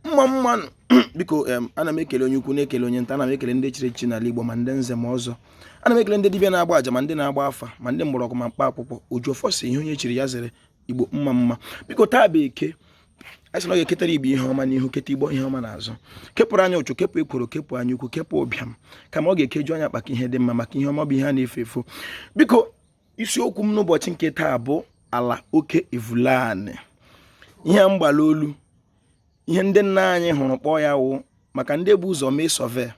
mma mma nụ biko ana m ekele onye ukwu na-ekele onye nta ana m ekele ndị chiri echichi n'ala Igbo ma ndị nze ma ọzọ ana m ekele ndị dibịa na-agba aja ma ndị na-agba afa ma ndị mgbọrọgwụ ma mkpa akwụkwọ oji ọfọ sị ihe onye chiri ya zere Igbo mma mma biko taa bụ eke anyị sị na ọ ga-eketara igbo ihe ọma n'ihu keta igbo ihe ọma n'azụ kepụrụ anyị ụchụ kepụ ekworo kepụ anya ukwu kepụ ụbịam kama ọ ga-ekeju anyị akpa ka ihe dị mma maka ihe ọma bụ ihe a na-efe efe biko isiokwu m n'ụbọchị nke taa bụ ala oke evule anị ihe mgbala olu ihe ndị nna anyị hụrụ kpọọ ya wụ maka ndị bu ụzọ mee survey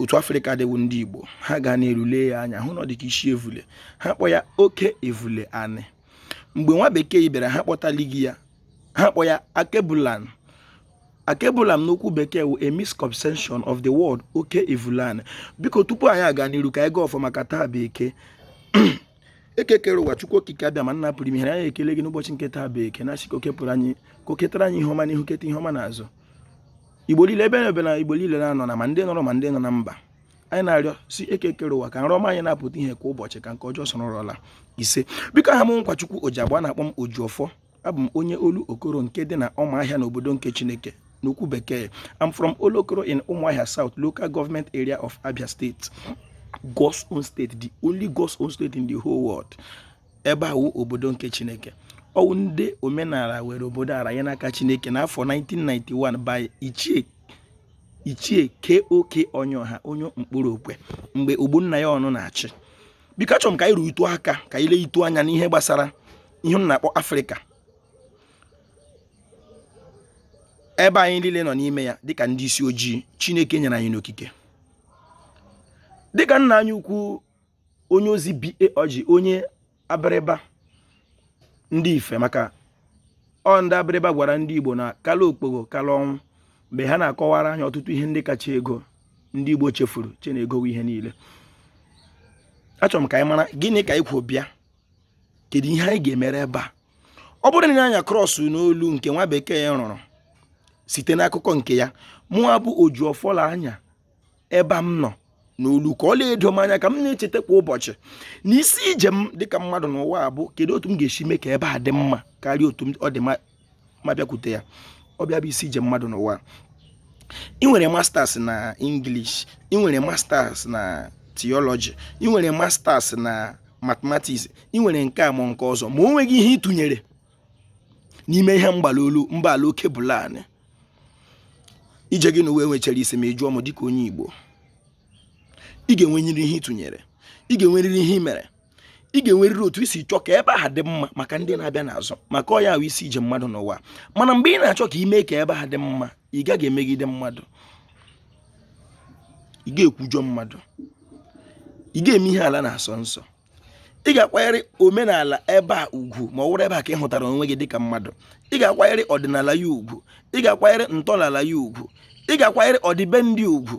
otu afrịka dị wụ ndị igbo ha ga n'elu lee ya anya hụ na ọ dịka isi evule ha kpọ ya oke evule anị mgbe nwa bekee bịara ha kpọtalighị ya ha kpọ ya akebulan akebulan n'okwu bekee wụ a misconception of the word oke evule anị biko tupu anyị aga n'iru ka anyị gọọ ọfọ maka taa bụ eke eke kere ụwa chukwu okike abịama nna pụrụ ime ihe anyị ekele gị n'ụbọchị nke taa bụ eke na-asị ka o kepụrụ anyị ka o ketara anyị ihe ọma n'ihu keta ihe ọma n'azụ igbo niile ebe na ebe na igbo niile na-anọ na ma ndị nọ ụlọ ma ndị nọ na mba anyị na-arịọ sị eke kere ụwa ka nrọ ọma anyị na-apụta ihe kwa ụbọchị ka nke ọjọọ soro ụla ise biko aha m nkwachukwu oji agba na-akpọ m oji ọfọ abụ m onye Olokoro nke dị na Ụmụahịa n'obodo nke chineke n'okwu bekee I'm from Olokoro in Umuahia South local government area of Abia State God's own state the only God's own state in the whole world ebe a wụ obodo nke chineke ọ wụ ndị omenala were obodo a raa ya n'aka chineke n'afọ 1991 by ichie ichie KOK Onyiọha onye Nkporo Okwe mgbe Ogbonnaya Ọnụ na-achị biko achọrọ m ka anyị ruo itu aka ka anyị lee itu anya n'ihe gbasara ihe m na-akpọ afrịka ebe anyị niile nọ n'ime ya dịka ndị isi ojii chineke nyere anyị n'okike dịka nna anyị ukwu onye ozi BA Oji onye abịrịba ndị ife maka ọ ndị abịrịba gwara ndị igbo na kala okpogho kala ọnwụ mgbe ha na-akọwara anyị ọtụtụ ihe ndị kacha ego ndị igbo chefuru chee na ego wụ ihe niile achọrọ m ka anyị mara gịnị ka anyị kwo bịa kedu ihe anyị ga-emere ebe a ọ bụrụ na anyị a cross n'olu nke nwa bekee ya rụrụ site n'akụkọ nke ya mụa bụ oji ọfọ lee anya ebe m nọ n'olu ka ọ na-edo m anya ka m na-echeta kwa ụbọchị na isi ije m dịka mmadụ n'ụwa a bụ kedu otu m ga-esi mee ka ebe a dị mma karịa otu ọ dị m abịakwute ya ọ bụ ya bụ isi ije mmadụ n'ụwa ị nwere masters na English ị nwere masters na theology ị nwere masters na mathematics ị nwere nke a ma nke ọzọ ma o nweghị ihe ị tụnyere n'ime ihe mgbala olu mgbala oke evule anị ije gị n'ụwa enwechaghị isi ma ị jụọ m dịka onye Igbo ị ga-enwerịrị ihe ị tụnyere ị ga-enwerịrị ihe ị mere ị ga-enwerịrị otu i si chọọ ka ebe ahụ dị mma maka ndị na-abịa n'azụ maka ọ ya wụ isi ije mmadụ n'ụwa mana mgbe ị na-achọ ka i mee ka ebe ahụ dị mma ị gaghị emegide mmadụ ị ga-ekwujọ mmadụ ị ga-eme ihe ala na-asọ nsọ ị ga-akwanyere omenala ebe a ugwu ma ọ wụrụ ebe a ka ị hụtara onwe gị dịka mmadụ ị ga-akwanyere ọdịnala ya ugwu ị ga-akwanyere ntọala ya ugwu ị ga-akwanyere ọdịbendị ugwu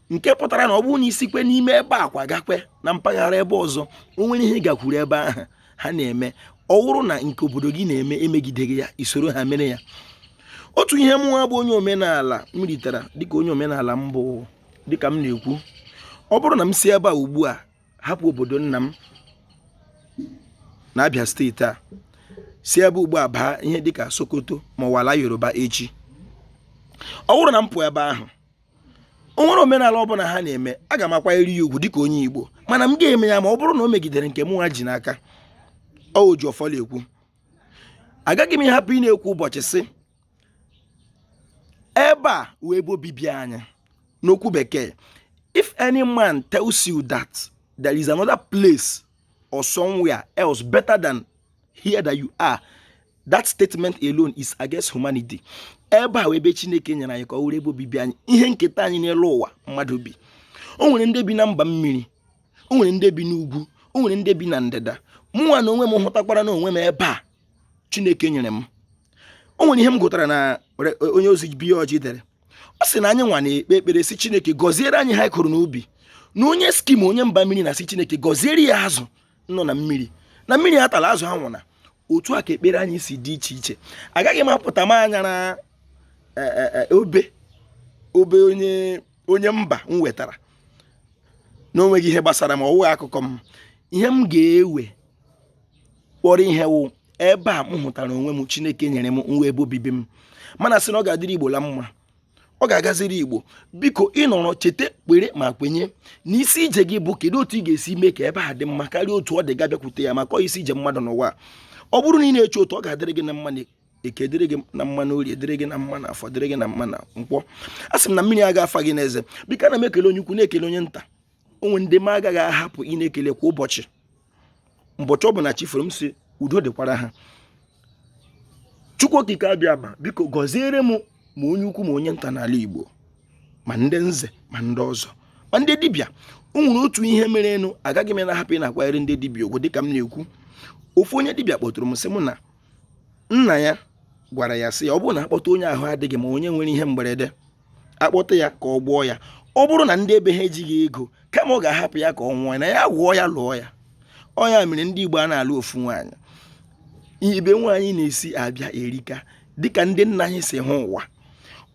nke pụtara na ọ bụrụ na i sikwe n'ime ebe a kwagakwe na mpaghara ebe ọzọ o nwere ihe ị gakwuru ebe ahụ ha na-eme ọ wụrụ na nke obodo gị na-eme emegideghị ya i soro ha mere ya otu ihe mụnwa bụ onye omenala m ritara dịka onye omenala m bụ dịka m na-ekwu ọ bụrụ na m si ebe a ugbu a hapụ obodo nna m na abia steeti a si ebe a ugbu a baa ihe dịka sokoto ma ọ wụ ala yoruba echi ọ bụrụ na m pụọ ebe ahụ o nwere omenala ọ bụla ha na-eme aga m akwanyere ya ugwu dịka onye Igbo mana m ga-eme ya ma ọ bụrụ na o megidere nke mụnwa ji n'aka o ji ọfọ la-ekwu agaghị m ịhapụ ịna-ekwu ụbọchị sị ebe a wụ ebe obibi anyị n'okwu bekee if any man tells you that there is another place or somewhere else better than here that you are that statement alone is against humanity ebe a wụ ebe chineke nyere anyị ka ọ wụrụ ebe obibi anyị ihe nketa anyị n'elu ụwa mmadụ bi o nwere ndị bi na mba mmiri o nwere ndị bi n'ugwu o nwere ndị bi na ndịda mụnwa na onwe m hụtakwara na onwe m ebe a chineke nyere m o nwere ihe m gụtara na onye ozi bi ọjị dere ọ sị na anyị nwa na-ekpe ekpere sị chineke gọziere anyị ihe a kụrụ n'ubi na onye eskimo onye mba mmiri na-asị chineke gọziere ya azụ nọ na mmiri na mmiri atala azụ ha anwụna otu a ka ekpere anyị si dị iche iche agaghị m apụta m anyara e, e, e, obe obe onye onye mba wetara na o nweghị ihe gbasara m ọ wụghị akụkọ m ihe m ga-ewe kpọrọ ihe wụ ebe a m hụtara onwe m chineke nyere m nwa ebe obibi m m ana-asị na ọ ga-adịrị igbo la mma ọ ga-agaziri igbo biko ị nọrọ chete kwere ma kwenye na isi ije gị bụ kedu otu ị ga-esi mee ka ebe a dị mma karịa otu ọ dị gị abịakwute ya maka isi ije mmadụ n'ụwa ọ bụrụ na ị na-eche otu ọ ga-adịrị gị na mma na eke dịrị gị na mma na orie dịrị gị na mma na afọ dịrị gị na mma na nkwọ asị m na mmiri aga afa gị n'eze biko ana m ekele onye ukwu na-ekele onye nta o nwere ndị m agaghị ahapụ ịna-ekele kwa ụbọchị mbọchị ọbụla chi foro m sị udo dịkwara ha chukwu okike abịama biko gọziere m ma onye ukwu ma onye nta n'ala igbo ma ndị nze ma ndị ọzọ ma ndị dibịa o nwere otu ihe merenụ agaghị m na-ahapụ ịna-akwanyere ndị dibịa ugwu dịka m na-ekwu ofu onye dibịa kpọtụrụ m sị m na nna ya gwara ya sị ya ọ bụrụ na a kpọta onye ahụ adịghị ma onye nwere ihe mgberede akpọta ya ka ọ gwọọ ya ọ bụrụ na ndị ebe ha ejighị ego kama ọ ga-ahapụ ya ka ọ nwụọ na ya gwọọ ya lụọ ya ọ ya mere ndị dibịa a na-alụ ofu nwaanyị ebe nwaanyị na-esi abịa erika dịka ndị nna anyị si hụ ụwa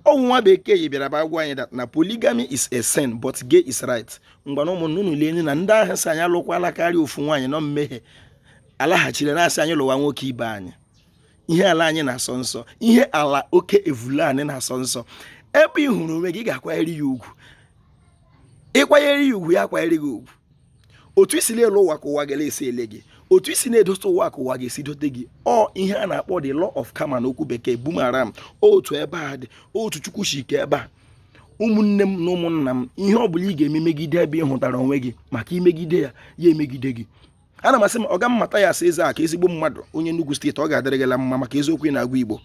ọ wụ nwa bekee yi bịara bịa gwa anyị na polygamy is a sin but gay is right ngwanụ ụmụnna unu lee na ndị ahụ sị anyị alụkwala karịa ofu nwaanyị na ọ mmehie alaghachiri na-asị anyị lụwa nwoke ibe anyị ihe ala anyị na-asọ nsọ ihe ala oke evule anyị na-asọ nsọ ebe ị hụrụ onwe gị ị ga-akwanyere ya ugwu ị kwanyere ya ugwu ya akwanyere gị ugwu otu i si na-ele ụwa ka ụwa ga-esi ele gị otu i si na-edote ụwa ka ụwa ga-esi dote gị ọ ihe a na-akpọ the law of karma n'okwu bekee boomerang otu ebe a dị otu Chukwu si kee ebe a ụmụnne m na ụmụnna m ihe ọ bụla ị ga-eme megide ebe ị hụtara onwe gị maka i megide ya ya emegide gị ana m asị m ọga m Mathias Ezeaku ezigbo mmadụ onye Enugu steeti ọ ga-adịrị gị la mma maka eziokwu ị na-agwa Igbo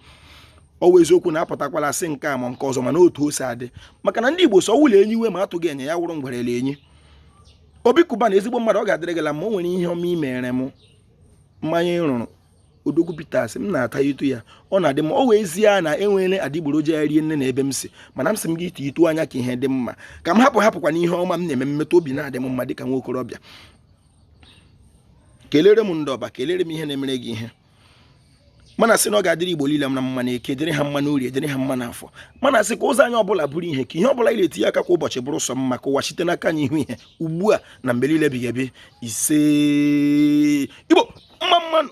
ọ wụ eziokwu na-apụtakwala asị nke a ma nke ọzọ mana otu o si adị maka na ndị Igbo sọ wụlọ enyi iwe ma atụghị enye ya wụrụ ngwerele enyi Obi Cubana ezigbo mmadụ ọ ga-adịrị gị la mma o nwere ihe ọma i mere m mmanya ị rụrụ Odogwu Bitters m na-atatụ ya ọ na-adị mma ọ wụ ezie na e nwere adịgboroja ya rie nne na ebe m si mana m sị m gị ite itu anya ka ihe dị mma ka m hapụ hapụkwa na ihe ọma m na-eme mmetụ obi na-adị m mma dịka nwa okorobịa kelere m ndị ọba kelere m ihe na-emere gị ihe m na-asị na ọ ga-adịrị Igbo niile na mma n'eke dịrị ha mma n'orie dịrị ha mma n'afọ m na-asị ka ụzọ anyị ọbụla bụrụ ihe ka ihe ọbụla anyị na-etinye aka kwa ụbọchị bụrụ sọ mma ka ụwa site n'aka anyị hụ ihe ugbu a na mgbe niile ebighị ebi isee Igbo mma mma nụ